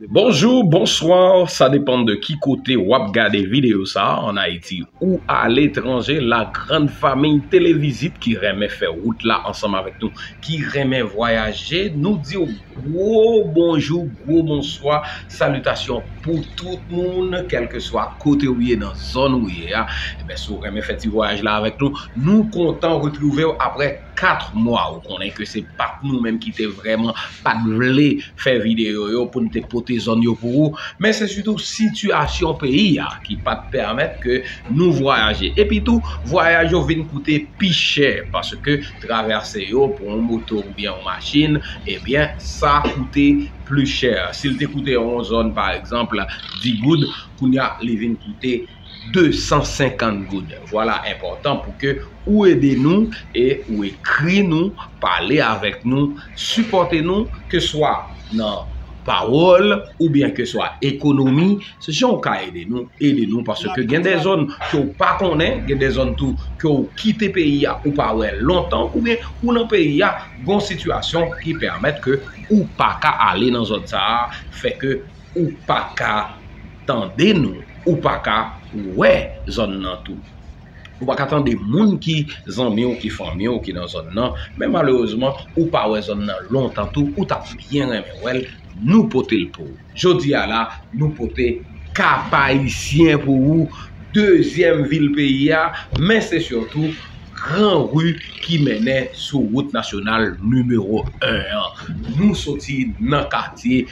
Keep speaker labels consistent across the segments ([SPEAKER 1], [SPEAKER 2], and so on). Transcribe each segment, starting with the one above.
[SPEAKER 1] Bonjour, bonsoir,
[SPEAKER 2] sa depan de ki kote wap gade video sa an Ayiti ou aletranje la grand famille televizit ki renmen fè wout la ansanm avèk nou ki renmen vwayaje nou diw gwo bonjou gwo bonswa salitasyon pou tout moun kèlkeswa kote ou ye nan zòn ou ye a, si ou renmen fè ti vwayaj la avèk nou nou kontan retrouvew aprè. 4 mwa ou konnen ke se pat nou menm ki te vreman pat vle fè video yo pou nou te pote zòn yo pou ou men se sitou sitiyasyon peyi a ki pat pèmèt ke nou vwayaje epi tou vwayaj yo vin koute pi chè paske travèse yo pou yon moto ou byen yon machin ebyen sa koute pli chè si l te koute yon zòn pa egzanp 10 goud kounya li vin koute 250 goud. Vwala enpòtan pou ke ou ede nou e ou ekri nou, pale avèk nou, sipòte nou ke swa nan pawòl ou byen ke swa ekonomi, se jan ou ka ede nou, ede nou paske gen de zòn ke ou pa konnen, gen de zòn tou ke ou kite peyi a ou pa wè lontan ou byen ou nan peyi a gon sitiyasyon ki pèmèt ke ou pa ka ale nan zòn sa a fè ke Ou paka tande nou. Ou paka wè zòn nan tou. Ou paka tande moun ki zanmi ou, ki fanmi ou ki nan zòn nan. Men malerezman, ou pa wè zòn nan lontan tou. Ou ta byen renmen wè l. Nou pote l pou ou. Jodi a la, nou pote Kapayisyen pou ou. Dezyèm vil peyi a. Men se sitou gran ri ki mennen sou wout nasyonal nimewo 1 an. Nou soti nan katye.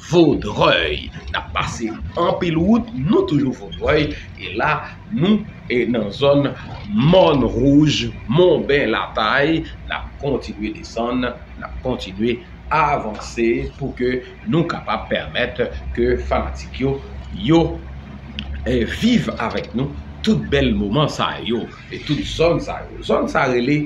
[SPEAKER 2] Vaudreuil nap pase anpil wout nou toujou Vaudreuil e la nou e nan zòn mòn wouj monben latay nap kontinye desann nap kontinye avanse pou ke nou kapab pèmèt ke fanatik yo yo viv avèk nou tout bèl moman sa yo e tout zòn sa yo zòn sa rele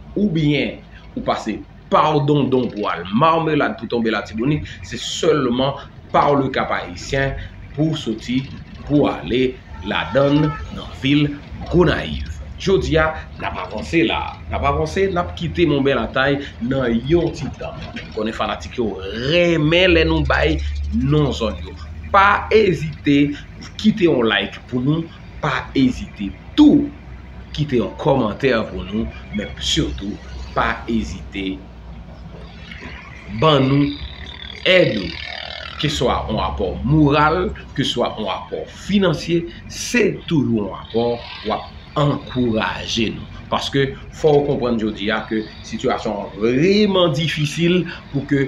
[SPEAKER 2] oubyen ou pase par Dondon pou al Marmelade pou tonbe Latibonit, se sèlman par le Cap Haïtien pou w soti pou ale ladan l nan vil Gonayiv. Jodi a, n ap avanse la a. N ap avanse, n ap kite Mont Bèl Atay nan yon ti tan. Men m konnen fanatik yo renmen lè nou bay non zòn yo. Pa ezite kite yon like pou nou. Pa ezite tou kite yon kòmantè pou nou men sitou pa ezite ban nou èd ou ke swa yon apò moral ke swa yon apò finansye se toujou yon apò w ap ankouraje nou paske fò ou konprann jodi a ke sitiyasyon an vreman difisil pou ke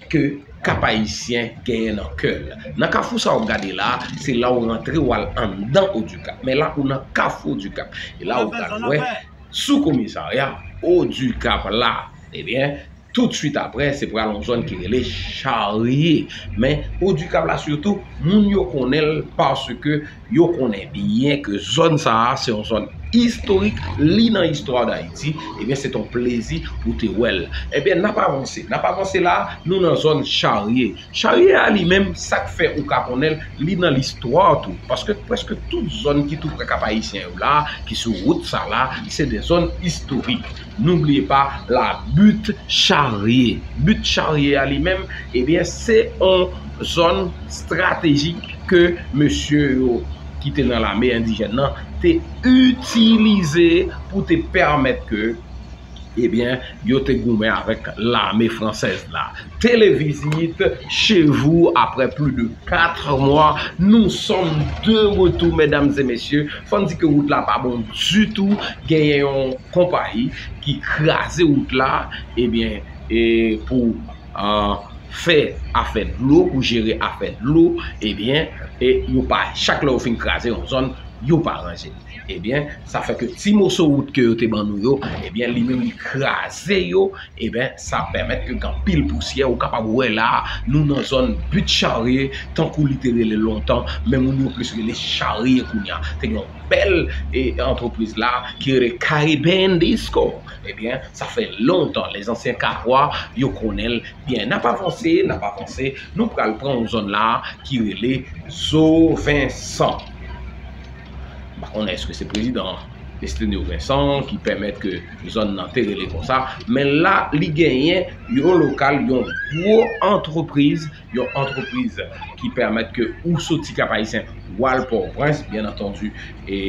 [SPEAKER 2] ke Cap Haïtien genyen nan kè l. Nan kafou sa w ap gade la, se la w rantre w al anndan Odikap. Men la ou nan kafou Odikap. E la ou pral wè sou komisarya Odikap la. Ebyen, tout swit apre se pral yon zòn ki rele charye. Men Odikap la sitou, moun yo konnen l paske Yo konnen byen ke zòn sa a se yon zòn istorik, li nan istwa Dayiti, ebyen se te yon plezi pou te wè l. Ebyen n ap avanse, n ap avanse la a, nou nan zòn Charye. Charye a li menm, sa k fè ou ka konnen l, li nan listwa tou, paske prèske tout zòn ki tou prè Kap-Ayisyen yo la a, ki sou wout sa la a, se de zòn istorik. N'oubliez pas la butte charrier. Butte charrier a li menm eh bien se on zòn stratejik ke mesye yo ki te nan lame endijèn nan te itilize pou te pèmèt ke eh bien yo te goumen avèk lame fransèz la. Televisit chez vous après plus de 4 mwa nou sòm de retou medam e mesye fòm di ke wout la pa bon ditou genyen yon konpayi ki kraze wout la ebyen e pou an fè afè dlo pou jere afè dlo ebyen e yo pa chak lè yo fin kraze yon zòn yo pa ranje ebyen sa fè ke ti moso wout ke yo te ban nou yo ebyen li menm li kraze yo. Eben, sa pèmèt ke gen anpil pousyè, ou kapab wè la a, nou nan zòn But Charrier, tankou li te rele lontan, men moun yo plis rele Charrier kounye a. Te gen yon bèl antrepriz la a ki rele Caribbean Disco. Eben, sa fè lontan, les anciens Cahrois, yo konnen l byen. N ap avanse, n ap avanse, nou pral pran yon zòn la a ki rele Zo Vensan. M pa konnen èske se prezidan Destinio Vincent ki pèmèt ke. zòn nan te rele konsa, men la li genyen yon lokal yon gwo antrepriz, yon antrepriz ki pèmèt ke ou soti Kap Ayisyen ou al Pòtoprens, byen antandi e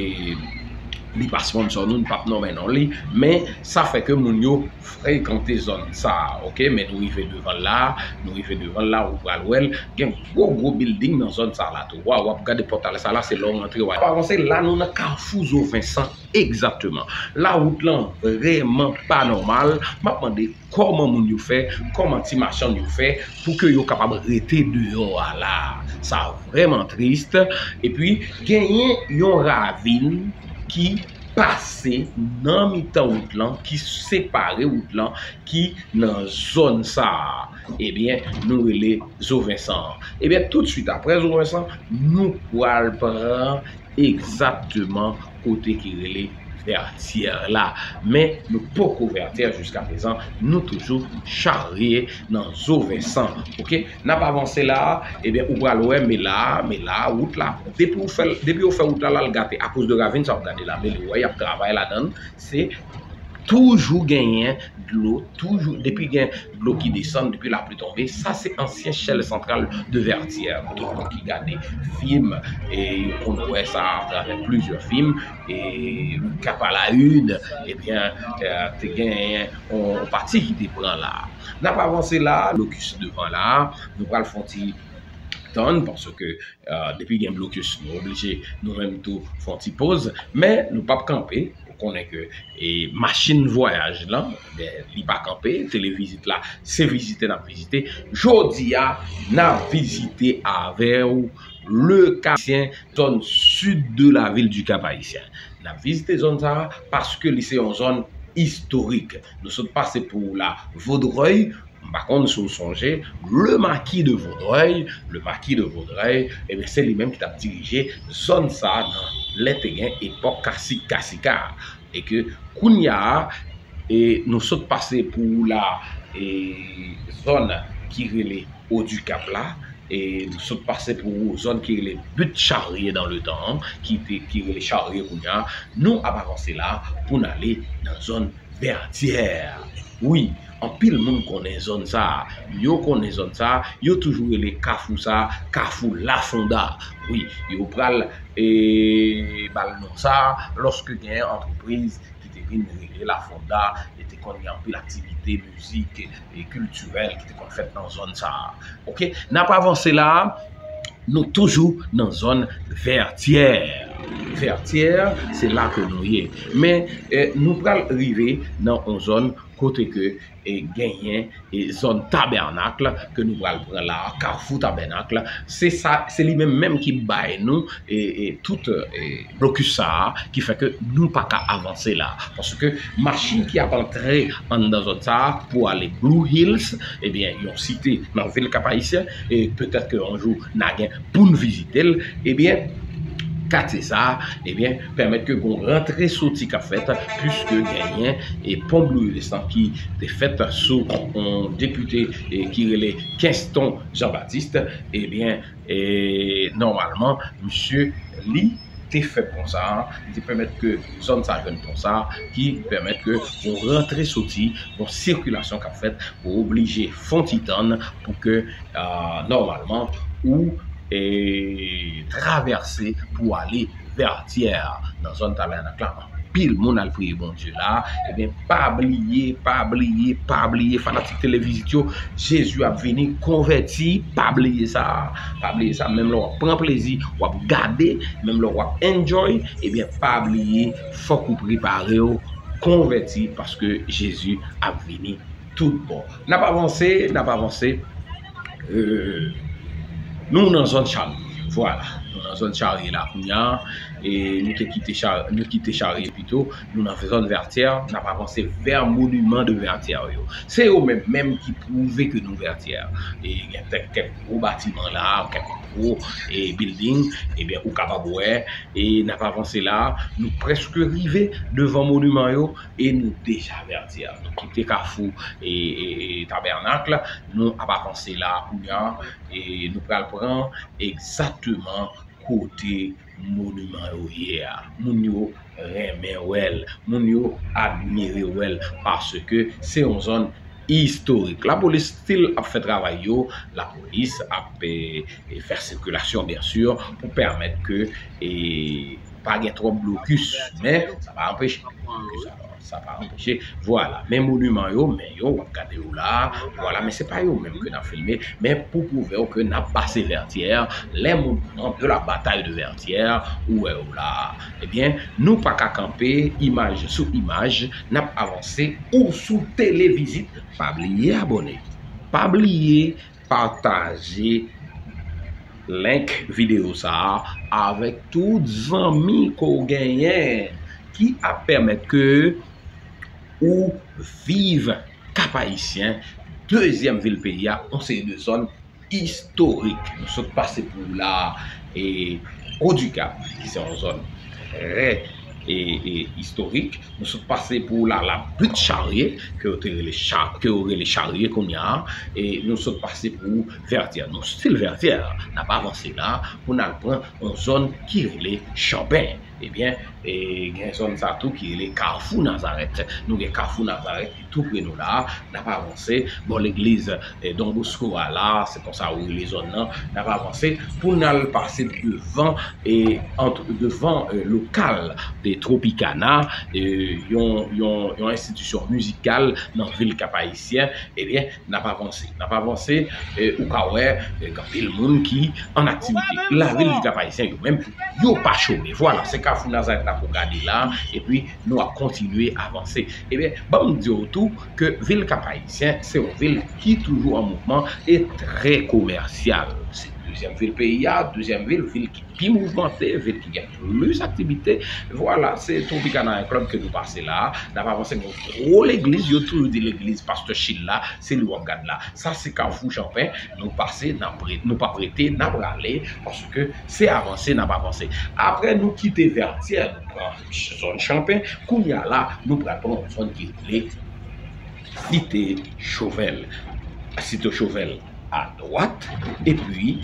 [SPEAKER 2] li pa sponsò nou, nou pap nonmen non li, men sa fè ke moun yo frekante zòn sa a, ok, men nou rive devan l la, nou rive devan l la, ou pral wè l, gen gwo gwo bilding nan zòn sa la tou, waw wap gade pòtal sa la se lè w rantre w al avanse, la nou nan kafou Zo Vensan. Egzakteman. La wout lan vrèman pa nòmal. M ap mande kòman moun yo fè, kòman ti machann yo fè pou ke yo kapab rete deyò a la a. Sa vrèman trist. E pi genyen yon ravin ki pase nan mitan wout lan, ki separe wout lan, ki nan zòn sa a. Ebyen, nou rele Zo Vensan an. Ebyen, toutswit apre Zo Vensan, nou pral pran egzakteman kote ki rele Vètyè la, men nou poko Vètyè jiska prezan, nou toujou charye nan zo Vensan ok, nap avanse la a ebyen ou pral wè me la a, me la a wout la depi ou fèl, depi yo fè wout la la al gate akoz de ravin sa wap gade la, mele wè yap travay ladann se toujou genyen dlo toujou depi gen. Dlo ki desann depi lapli tonbe, sa se ansyen chèl santral de Vètyè, kote moun ki gade fim e yo konn wè sa atravè plizyè fim e Kap a la Une ebyen te genyen yon pati ki te pran la. N ap avanse la a, blokis devan la a, nou pral fè yon ti tann paske depi gen blokis nou oblije nou menm tou fè yon ti poz men nou p ap kanpe. konnen ke machin vwayaj lan, li pa kanpe, televizit la, se vizite n ap vizite. Jodi a, n ap vizite avè ou le Kapayisyen, zòn sid de la vil di Kapayisyen. N ap vizite zòn sa a paske li se yon zòn istorik. Nou sot pase pou la Vodrèy. M pa konn si w sonje Le Marquis de Vaudreuil, Le Marquis de Vaudreuil, ebyen se li menm ki t ap dirije zòn sa a nan lè te gen epòk kasik kasika a e ke kounya a e nou sot pase pou ou la e zòn ki rele Haut du Cap la e nou sot pase pou ou zòn ki rele Butte Charrier dans le temps an ki te ki rele Charrier kounya a nou ap avanse la a pou n ale nan zòn Vertières wi. Anpil moun konnen zòn sa a. Yo konnen zòn sa a. Yo toujou rele kafou sa a kafou Lafonda. Wi, yo pral ba l non sa a lòske gen yon antrepriz ki te vin rele Lafonda e te konn gen anpil aktivite mizik e kiltirèl ki te konn fèt nan zòn sa a. Ok, n ap avanse la a, nou toujou nan zòn Vètyè. Vètyè, se la ke nou ye. Men, nou pral rive nan yon zòn. kote ke genyen zòn tabènakle ke nou pral pran la, kafou tabènakle, se sa, se li menm menm ki bay nou tout blokis sa a, ki fè ke nou pa ka avanse la, paske machin ki ap antre anndan zòn sa a pou ale Blue Hills, ebyen yon site nan vil Kapayisyen, e petèt ke yon jou na gen poun vizitel, ebyen katye sa a, ebyen. pèmèt ke gon rantre soti kap fèt puiske genyen e pon blue destan ki te fèt sou on depite ki rele kenston jan batiste ebyen e nòmalman misye li te fè pon sa li te pèmèt ke zòn sa jwenn pon sa ki pèmèt ke gon rantre soti gon sikilasyon kap fèt ou oblije fon ti tann pou ke nòmalman ou e travèse pou ale Vertière nan zòn tabènak la anpil moun al priye Bondye la ebyen pa bliye pa bliye pa bliye fanatik televizit yo Jezi ap vini konvèti pa bliye sa pa bliye sa menm lè wap pran plezi wap gade menm lè wap enjoy ebyen pa bliye fòk ou prepare ou konvèti paske Jezi ap vini tout bon nap avanse nap avanse Nou nan zòn charye. Vwala. Nou nan zòn charye la kounya. E nou te kite charye. Nou kite charye pito. Nou nan zòn vètyè. N ap avanse vè moniman de vètyè yo. Se yo menm menm ki pwouve ke nou vètyè. E gen kèk kèk gwo batiman la. Kèk gwo e bilding. Ebyen ou kapab wè. E n ap avanse la. Nou prèske rive devan moniman yo. E nou deja avèti a. Nou kite kafou tabènak la, nou ap avanse la a kounya e nou pral pran egzakteman kote moniman yo ye a. Moun yo renmen wè l, moun yo admire wè l paske se yon zòn istorik. Lapolis stil ap fè travay yo, lapolis ap fè sikilasyon byen sur pou pèmèt ke pa gen twòp blokis men sa pa anpeche sa pa anpeche vwala men moniman yo men yo wap gade yo la vwala men se pa yo menm ke nap filme men pou pwouve w ke nap pase vètyè lè moun pran pou la batay de vètyè ou wè yo la Ebyen nou paka kanpe imaj sou imaj nap avanse. Ou sou tele vizit pa bliye abone pa bliye pataje link video sa avek tout zanmi ke w genyen ki ap pemet ke ou viv Cap Haïtien dezyem vil peyi a yon seri de zòn. istorik nou sot pase pou ou la a, e Haut du Cap ki se yon zòn trè istorik, nou sot pase pou ou la a la Butte Charrier ke yo te rele ke yo rele Charrier kounya a, e nou sot pase pou ou Vertières. Nou stil Vertières n ap avanse la a pou n al pran yon zòn ki rele Chamben. Ebyen gen zòn sa tou ki rele Carrefour Nazareth. Nou gen Carrefour Nazareth. tou pre nou la a, n ap avanse bò legliz Don Bosco a la a, se konsa yo rele zòn nan, n ap avanse pou n al pase devan devan lokal de Tropicana, yon enstitisyon mizikal nan vil Kapayisyen, ebyen n ap avanse, n ap avanse, ou ka wè gen anpil moun ki an aktivite. Lavil Kapayisyen yo menm, yo pa chome, vwala se kafou Nazarèt la pou w gade la a, epi. nou ap kontinye avanse. Ebyen, ban m di w tou ke vil Kap Ayisyen se yon vil ki toujou an mouvman e trè komèsyal. Se dezyèm vil peyi a, dezyèm vil, vil ki pi mouvmante, vil ki gen plis aktivite. Vwala, se Tropicana yon klèb ke nou pase la a. N ap avanse gen yon gwo legliz, yo toujou di legliz Pastè Chil la, se li w ap gad la. Sa se Kafou Chanpen, nou pase, n ap re, nou p ap rete, n ap rale, paske se avanse n ap avanse. Aprè nou kite Vètyè, nou pran. zòn Chanpin, kounye a la nou pral pran yon zòn ki rele Site Chovèl, Site Chovèl a dwat epi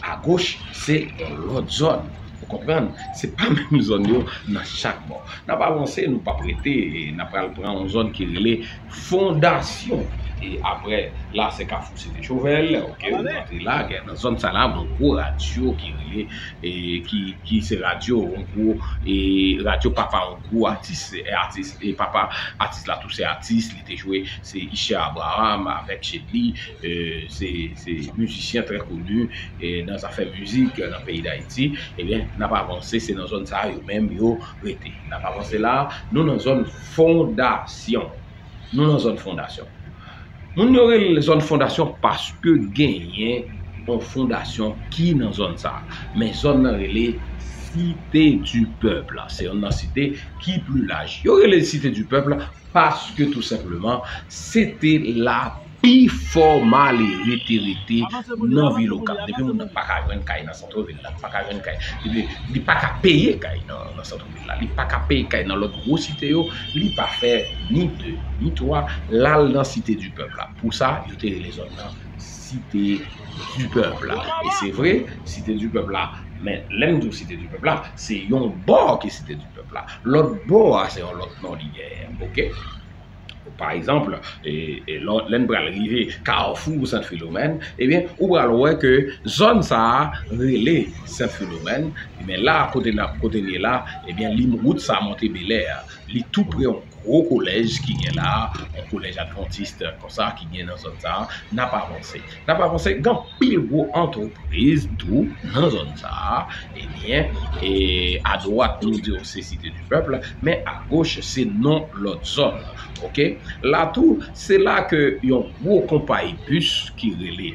[SPEAKER 2] a goch se yon lòt zòn, ou konprann, se pa menm zòn yo nan chak bò. N ap avanse, nou p ap rete, n ap pral pran yon zòn ki rele. fondasyon e aprè la se kafou site chovel ok ou antre la gen nan zòn sa la gon gwo radyo ki rele e ki ki se radyo on gwo e radyo papa on gwo atis se atis e papa atis la tou se atis li te jwe se iche abraham avèk chedly e se se mizisyen trè koni e nan zafè mizik nan peyi dayiti ebyen nap avanse se nan zòn sa yo menm yo rete nap avanse la nou nan zòn Fondasyon. Nou nan zòn fondasyon. Moun yo rele zòn fondasyon paske genyen yon fondasyon ki nan zòn sa. Men zòn nan rele Site di Pèp la. Se yon nan site ki pli laj. Yo rele Site di Pèp la paske tou senpleman se te la. Pi fò malere te rete nan vil Okap. Depi moun nan pa ka jwenn kay nan santro vil la, li pa ka jwenn kay. Depi li pa ka peye kay nan santro vil la, li pa ka peye kay nan lòt gwo site yo, li pa fè ni de, ni twa, l al nan site di pèp la. Pou sa, yo te rele zòn nan site di pèp la. E se vre, site di pèp la, men lè m di w site di pèp la, se yon bò ki site di pèp la. Lòt bò a, se yon lòt non li genyen. Oke? Pa exemple, lè n pral rive Carrefour Saint Philomène, ebyen ou pral wè ke zòn sa a rele Saint Philomène, men la kote n ap, kote n ye la, ebyen li wout sa monte Belè a, li tou pre yon gwo kolèj ki gen la, yon kolèj advantiste konsa ki gen nan zòn sa a, n ap avanse. N ap avanse, gen anpil gwo antrepriz tou nan zòn sa a, ebyen e adwat nou di w se Site di Pèp la, men agoch se non lòt zòn ok. La tou se la ke yon gwo konpayi bis ki rele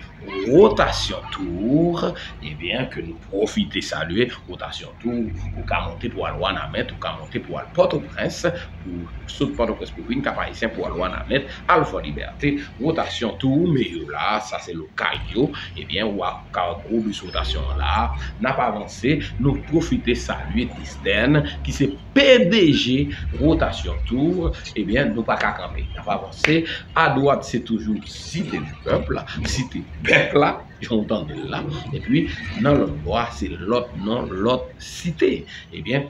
[SPEAKER 2] Rotation Tour ebyen ke nou pwofite salye Rotation. Tou, ou ka monte pou al Wanament, ou ka monte pou al Pòtoprens, pou sot Pòtoprens pou vin Kap Ayisyen pou al Wanament, al Fòlibète, wotasyon tou ou me yo la, sa se lokal yo, ebyen ou ap ka wè gwo bis wotasyon an la, n ap avanse, nou pwofite salye Destèn ki se pdg wotasyon tou, ebyen nou pa ka kanpe, n ap avanse, adwat se toujou Site di pèp la, Site pèp la. jan w tande l la, epi nan lòtbò a se lòt non, lòt site. Ebyen,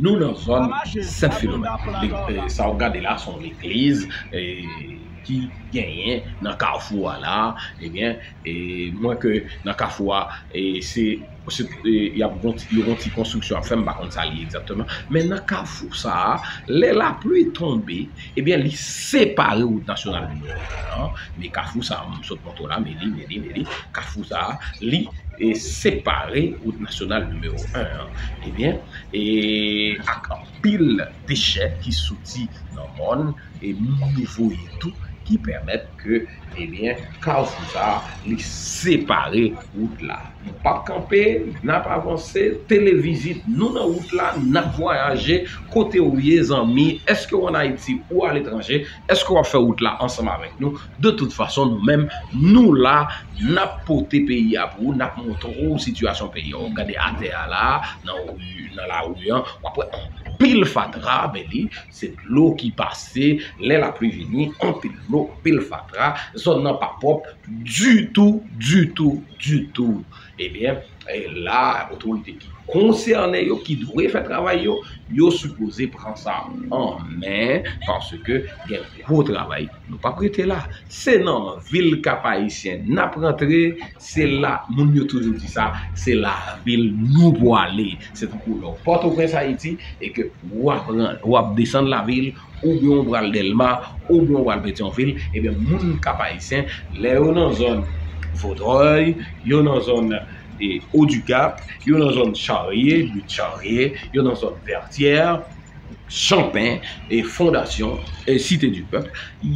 [SPEAKER 2] nou nan zòn Sent Filomèn. Sa w gade la se yon legliz ki genyen nan kafou a la. Ebyen, e mwen ke nan kafou a, e se. y ap gon ti yo gon ti konstriksyon y ap fè m pa konn sa l ye egzakteman men nan kafou sa a lè lapli tonbe ebyen li separe wout nasyonal nimewo 1 an men kafou sa a m sot montre w la men li men li men li kafou sa a li separe wout nasyonal nimewo 1 an ebyen e ak anpil dechè ki soti nan mòn e moun yo voye tou ki pèmèt ke Ebyen kafou sa li separe wout la. Nou pap kanpe, nap avanse, televizit nou nan wout la, nap vwayaje, kote ou ye zanmi, eske ou an Ayiti ou aletranje, eske wap fè wout la ansanm avèk nou, de tout fason nou menm nou la, nap pote peyi a pou ou, nap montre ou sitiyasyon peyi a, gade atè a la, nan lari an, wap wè anpil fatra, men li. Se dlo ki pase, lè lapli vini, anpil dlo, anpil fatra, zòn nan pa pwòp ditou, ditou, ditou. Ebyen, e la otorite ki konsène yo, ki dwe fè travay yo, yo sipoze pran sa an men, paske gen gwo travay. Nou pap rete la. Se nan vil Kap-Ayisyen nap rantre, Se la, moun yo toujou di sa, se lavil nou pwale. Se tankou lè w Pòtoprens, Ayiti, e ke ou ap ran, ou ap desann lavil, oubyen ou pral Dèlma, oubyen ou pral Petyonvil, ebyen moun Kap Ayisyen, lè yo nan zòn Vodrèy, yo nan zòn Odikap, yo nan zòn Charye, Luit Charye, yo nan zòn Vètyè, Chanpen e fondasyon e site di pèp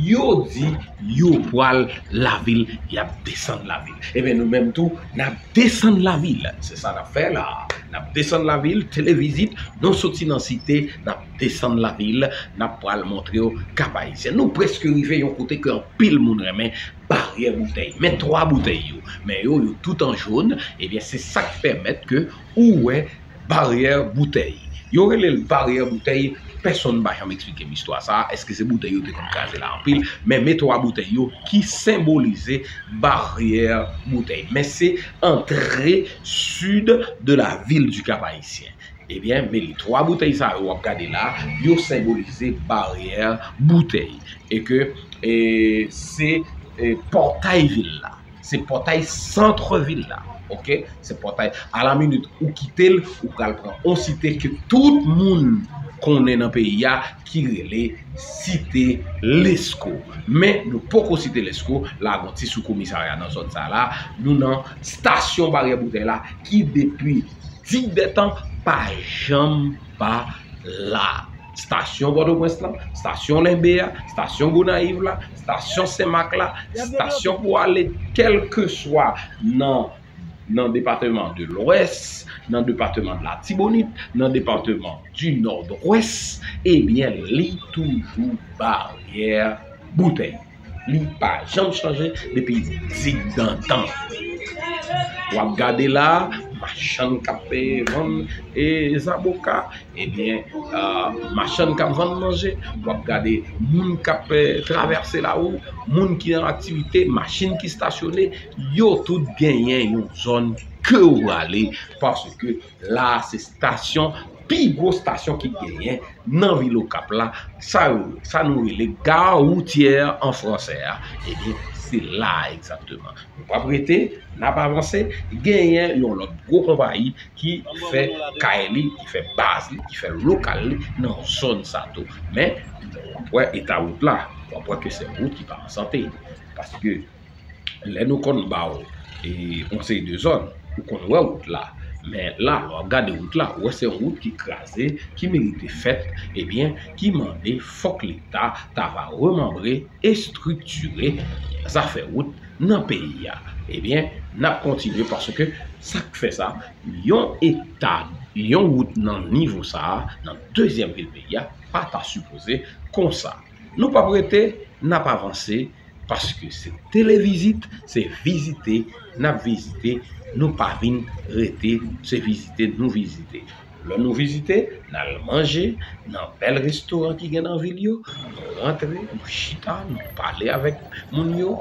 [SPEAKER 2] yo di yo pwal lavil yap desann lavil ebyen nou menm tou nap desann lavil se sa nap fè la nap desann lavil televizit nou soti nan site nap desann lavil nap pwal montre w kap ayisyen nou preske rive yon kote ke anpil moun renmen baryè boutèy men 3 boutèy yo men yo yo tout an jón ebyen se sak pèmèt ke Ou wè baryè boutèy. Yo rele l baryè boutèy, pèsonn pa janm eksplike m istwa sa a, èske se boutèy yo te konn kraze la anpil, men me twa boutèy yo ki senbolize baryè boutèy. Men se antre sid de la vil di Kap Ayisyen. Ebyen, me li twa boutèy sa yo w ap gade la, yo senbolize baryè boutèy. E ke se pòtay vil la. Se pòtay centre ville la ok se pòtay a la minute ou kitel ou pral pran on site ke tout moun konnen nan peyi a ki rele site lesko men nou poko site lesko la gon ti sou komisarya nan zòn sa la nou nan stasyon baryè boutèy la ki depi digdetan pa janm pa la. stasyon Pòtoprens lan, stasyon Lenbe a, stasyon Gonayiv la, stasyon Senmak la, stasyon pou ale kèlkeswa nan nan depateman de lwès, nan depateman de latibonit, nan depateman di nòdwès, ebyen li toujou baryè boutèy. Li pa janm chanje depi digdantan. W ap gade la, machann k ap vann e zaboka, ebyen machann k ap vann manje, w ap gade moun k ap travèse lari, moun ki an aktivite, machin ki stasyone, yo tout genyen yon zòn ke ou prale paske La a se stasyon, pi gwo stasyon ki genyen nan vil Okap la, sa yo, sa nou rele gare routière an fransè a, ebyen se la a egzakteman. Nou pap rete, n ap avanse, genyen yon lòt gwo konpayi ki fè kay li, ki fè baz li, ki fè lokal li nan zòn sa tou. Men, w ap wè eta wout la, w ap wè ke se yon wout ki pa an sante, paske lè nou konn ba ou yon seri de zòn, ou konn wè wout la, men la lè w ap gade wout la, ou wè se yon wout ki kraze, ki merite fèt, ebyen, ki mande fòk Leta ta va remanbre, estriktire zafè wout nan peyi a. Ebyen, n ap kontinye paske sa k fè sa, yon eta, yon wout nan nivo sa a, nan dezyèm vil peyi a, pa ta sipoze konsa. Nou pap rete, nap avanse paske se televizit, se vizite nap vizite, nou pa vin rete se vizite nou vizite. Lè nou vizite, n al manje nan bèl restoran ki gen nan vil yo, nou rantre, nou chita, nou pale avèk moun yo,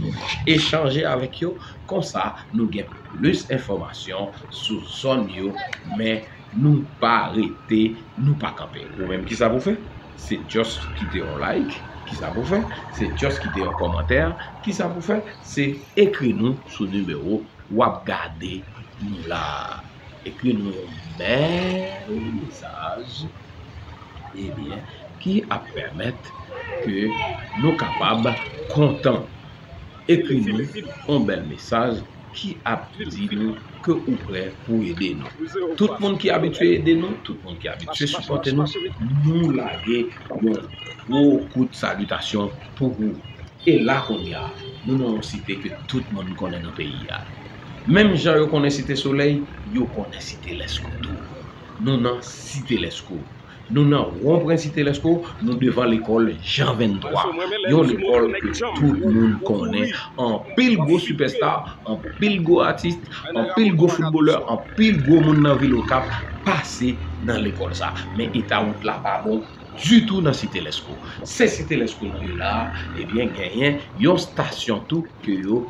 [SPEAKER 2] nou echanje avèk yo, konsa nou gen plis enfòmasyon sou zòn yo men nou pa rete, nou pa kanpe. Ou menm kisa pou fè? Se just kite yon like, ki sa pou fè? Se just kite yon kòmantè, ki sa pou fè? Se ekri nou sou nimewo w ap gade nou la a. Ekri nou yon bèl mesaj, ebyen, ki ap pèmèt ke nou kapab kontan. Ekri nou yon bèl mesaj. ki ap di nou ke ou prè pou ede nou. Tout moun ki abitye ede nou, tout moun ki abitye sipòte nou, nou lage yon gwo kout salitasyon pou ou. E la kounye a, nou nan yon site ke tout moun konnen nan peyi a. Menm jan yo konnen Site Solèy, yo konnen Site Lèskou tou. Nou nan Site Lèskou. Nou nan won pren Site Lèsko, nou devan lekòl Jan 23. Yon lekòl ke tout moun konnen. Anpil gwo sipèsta, anpil gwo atis, anpil gwo foutbolè, anpil gwo moun nan vil Okap pase nan lekòl sa. Men eta wout la pa bon ditou nan Site Lèsko. Se Site Lèsko nou ye la a, ebyen genyen yon stasyon tou ke yo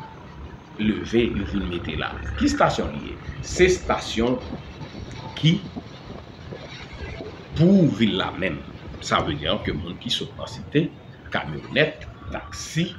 [SPEAKER 2] leve, yo vin mete la. Ki stasyon li ye? Se stasyon ki. Pou vil la menm, sa vle di ke moun ki sot nan site, kamyonèt, taksi,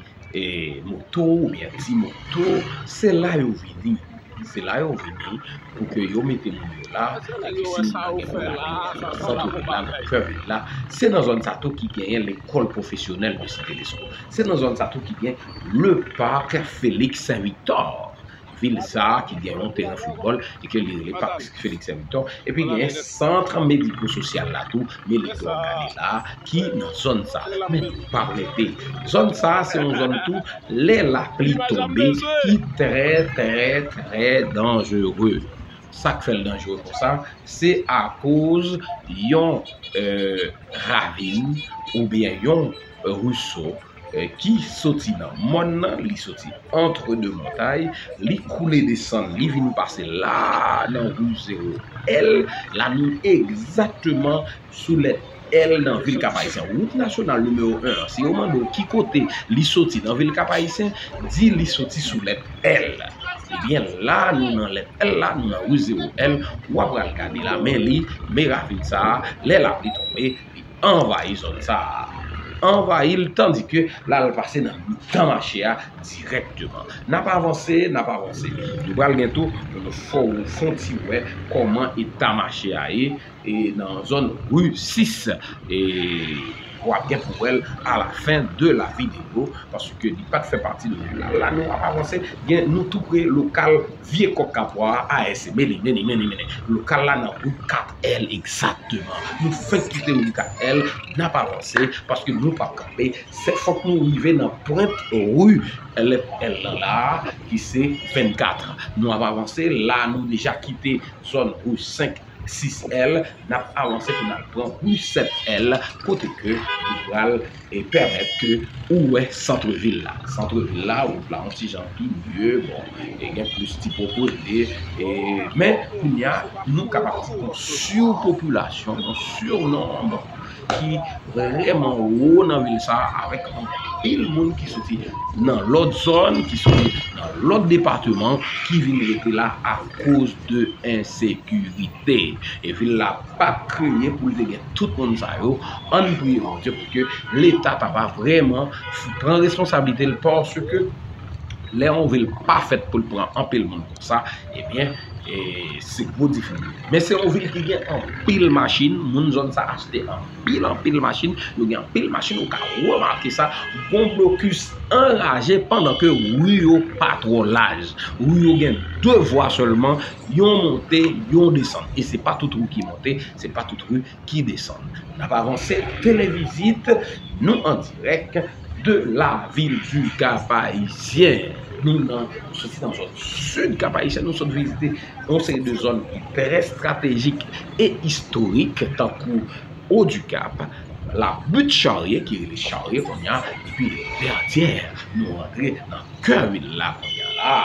[SPEAKER 2] moto oubyen ti moto, se la yo vini. Se la yo vini pou ke yo mete moun yo la, e ke si moun nan gen pou lage moun nan sant vil la, nan kè vil la. Se nan zòn sa tou ki genyen lekòl pwofesyonèl de Site Lesko. Se nan zòn sa tou ki gen le parc Felix Victor. vil sa a ki gen yon teren foutbòl e ke li rele Parc Félix Victor epi genyen Centre Médico Social la tou Meliky wap gade la a ki nan zòn sa a men nou pap rete zòn sa a se yon zòn tou lè lapli tonbe ki trè trè trè danjere sak fèl danjere konsa se akoz yon ravin oubyen yon ruso Ki soti nan mòn nan, li soti antre de montay, li koule desann, li vin pase la nan Wouj Zewo L, la nou egzakteman sou lèt L nan vil Kapayisyen. Wout nasyonal nimewo 1 an, si yo mande w ki kote li soti nan vil Kapayisyen, di li soti sou lèt L. Ebyen la nou nan lèt L la, nou nan Wouj Zewo L, w apral gade la men li, me ravin sa a, lè lapli tonbe, li anvayi zòn sa a, anvayi l tandike l al pase nan mitan mache a dirèkteman. N ap avanse, n ap avanse, nou pral gen tou pou nou fè w fon ti wè kòman eta mache a ye e nan zòn ri 6 e w ap gen pou wè l alafen de la videyo paske li pa t fè pati de wout la. La nou ap avanse, gen nou tou pre lokal Vye kòk kapwa a AS mele mele mele mele Lokal la nan wout 4 èl egzakteman Nou fenk kite wout 4 èl N ap avanse paske nou p ap kanpe Se fòk nou rive nan pwent ri lèt èl lan la a ki se 24 Nou ap avanse la a nou deja kite zòn ri 5 6 èl nap avanse pou nal pran rue 7 èl kote ke nou pral pèmèt ke ou wè centre ville la, centre ville la wout la yon ti jan pi mye bon e gen plis ti pwopriyete e men kounya nou kapab di yon surpopulasyon yon surnombre. ki vreman wo nan vil sa a avèk anpil moun ki soti nan lòt zòn, ki soti nan lòt depateman ki vin rete la akoz de ensekirite. E vil la pa t kreye pou l te gen tout moun sa yo. Ann priye Bondye pou ke Leta ta va vreman pran responsablite l paske lè yon vil pa fèt pou l pran anpil moun konsa, Ebyen, e se gwo difikilte. Men se yon vil ki gen anpil machin, moun zòn sa achte anpil anpil machin, yo gen anpil machin, ou ka remake sa, gon blokis anraje pandan ke ri yo pa twò laj. Ri yo gen 2 vwa sèlman, yon monte, yon desann. E se pa tout ri ki monte, se pa tout ri. ki desann. N ap avanse ak televizit nou an dirèk de lavil di Kapayisyen. Nou nan soti nan zòn sid Kapayisyen, nou sot vizite yon seri de zòn ki trè stratejik e istorik tankou Odikap, Labut Charye ki rele Charye kounye a epi Vètyè. Nou rantre nan. Kè vil la kounya la,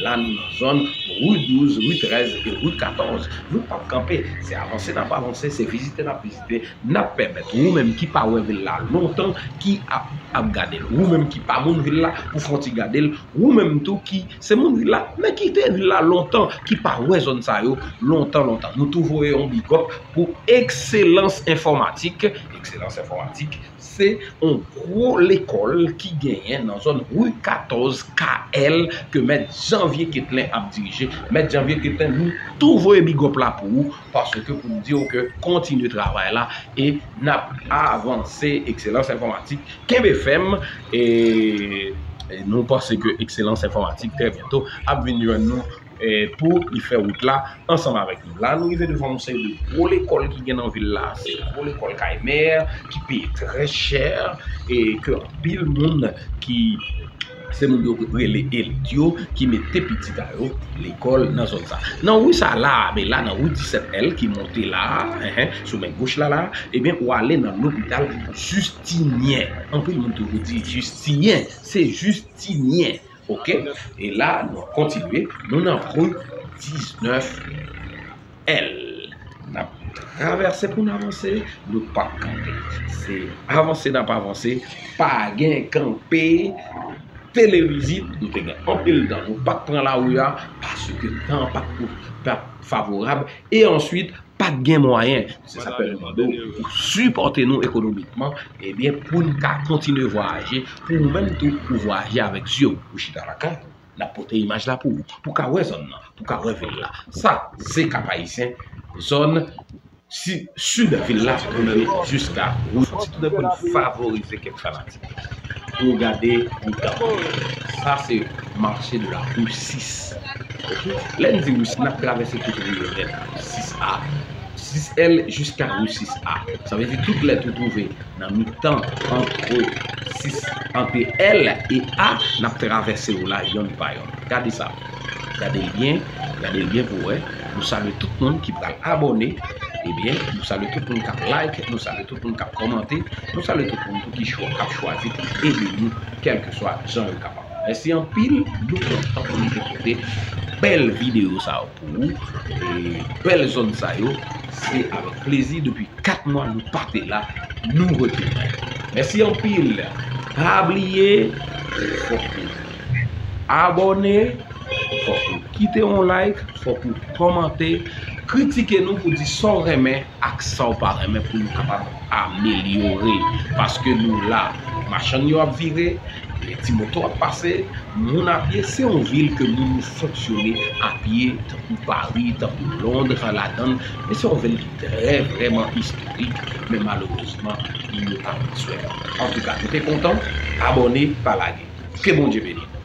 [SPEAKER 2] la nou nan zòn Rue 12, Rue 13 epi Rue 14. Nou pap kanpe, se avanse nap avanse, se vizite nap vizite, nap pèmèt ou menm ki pa wè vil la lontan, ki ap ap gade l, ou menm ki pa moun vil la, pou fè yon ti gade l, ou menm tou ki se moun vil la, men ki te vil la lontan, ki pa wè zòn sa yo lontan lontan. Nou tou voye yon bigòp pou Ekselans Enfòmatik, Ekselans Enfòmatik Se yon gwo lekòl ki genyen nan zòn Ru 14 KL ke mèt Janvye Ketlen ap dirije. Mèt Janvye Ketlen nou tou voye bigòp la pou ou paske pou n di w ke kontinye travay la e n ap avanse Ekselans Enfòmatik kenbe fèm e nou panse ke Ekselans Enfòmatik trè byento ap vin jwenn nou. Pou li fè wout la ansanm avèk nou. La nou rive devan yon seri de gwo lekòl ki gen nan vil la. Se gwo lekòl kay mè ki peye trè chè e ke anpil moun ki se moun yo rele elit yo ki mete pitit a yo lekòl nan zòn sa. Nan ri sa la a, men la nan ri 17 L ki monte la a, enhen, sou men goch la la a, ebyen ou ale nan lopital Jistinyen. Anpil moun toujou di Jistiyen, se Jistinyen. Ok, e la nou kontinye, nou nan rue 19 L. Nap travèse pou n avanse, nou pap kanpe. Se avanse nap avanse, pa gen kanpe, televizit, nou te gen anpil tan, nou pat pran la rue a, paske tan pat favorab, e answit, pa t gen mwayen. Se sa k fè nou mande w pou w sipòte nou ekonomikman ebyen pou n ka kontinye vwayaje, pou ou menm tou ou vwayaje avèk zye w. Ou chita lakay ou, n ap pote imaj la pou ou, pou w ka wè zòn nan, pou w ka wè vil la. Sa se Kap-Ayisyen, zòn sid vil la pou w rive jiska wout. Fòk ti tounèfò n favorize kèk fanatik. Pou gade yon tablo. Sa se mache de la rue 6. Ok. Lè n di rue 6, n ap travèse tout rue yo nèt. 6 a. 6 L jiska rue 6 a. Sa vle di tout lèt ou twouve nan mitan antre 6, antre L e A, n ap travèse yo la yonn pa yonn. Gade sa. Gade l byen. Gade l byen pou w wè. Nou salye tout moun ki pral abòne. Ebyen, nou salye tout moun k ap like. Nou salye. pou nou kap kòmante, nou salye tout moun tou ki ap chwazi pou ede nou kèlkeswa jan yo kapab. Mèsi anpil, nou kontan pou nou te pote bèl videyo sa yo pou ou, e bèl zòn sa yo, se avèk plezi depi 4 mwa nou pa te la, nou retounen. Mèsi anpil, pa bliye, fòk nou. Abòne, fòk ou kite yon like, fòk ou kòmante, kritike nou pou di sa w renmen ak sa w pa renmen pou nou kapab amelyore. Paske nou la, machann yo ap vire, ti moto ap pase, moun ap ye, se yon vil ke moun yo fonksyone ap ye, tankou Pari, tankou Lond, an ladann, men se yon vil ki trè vrèman istorik, men malerezman, moun yo pa pran swen l. Antouka nou te kontan, abòne pa lage. Ke Bondye beni nou.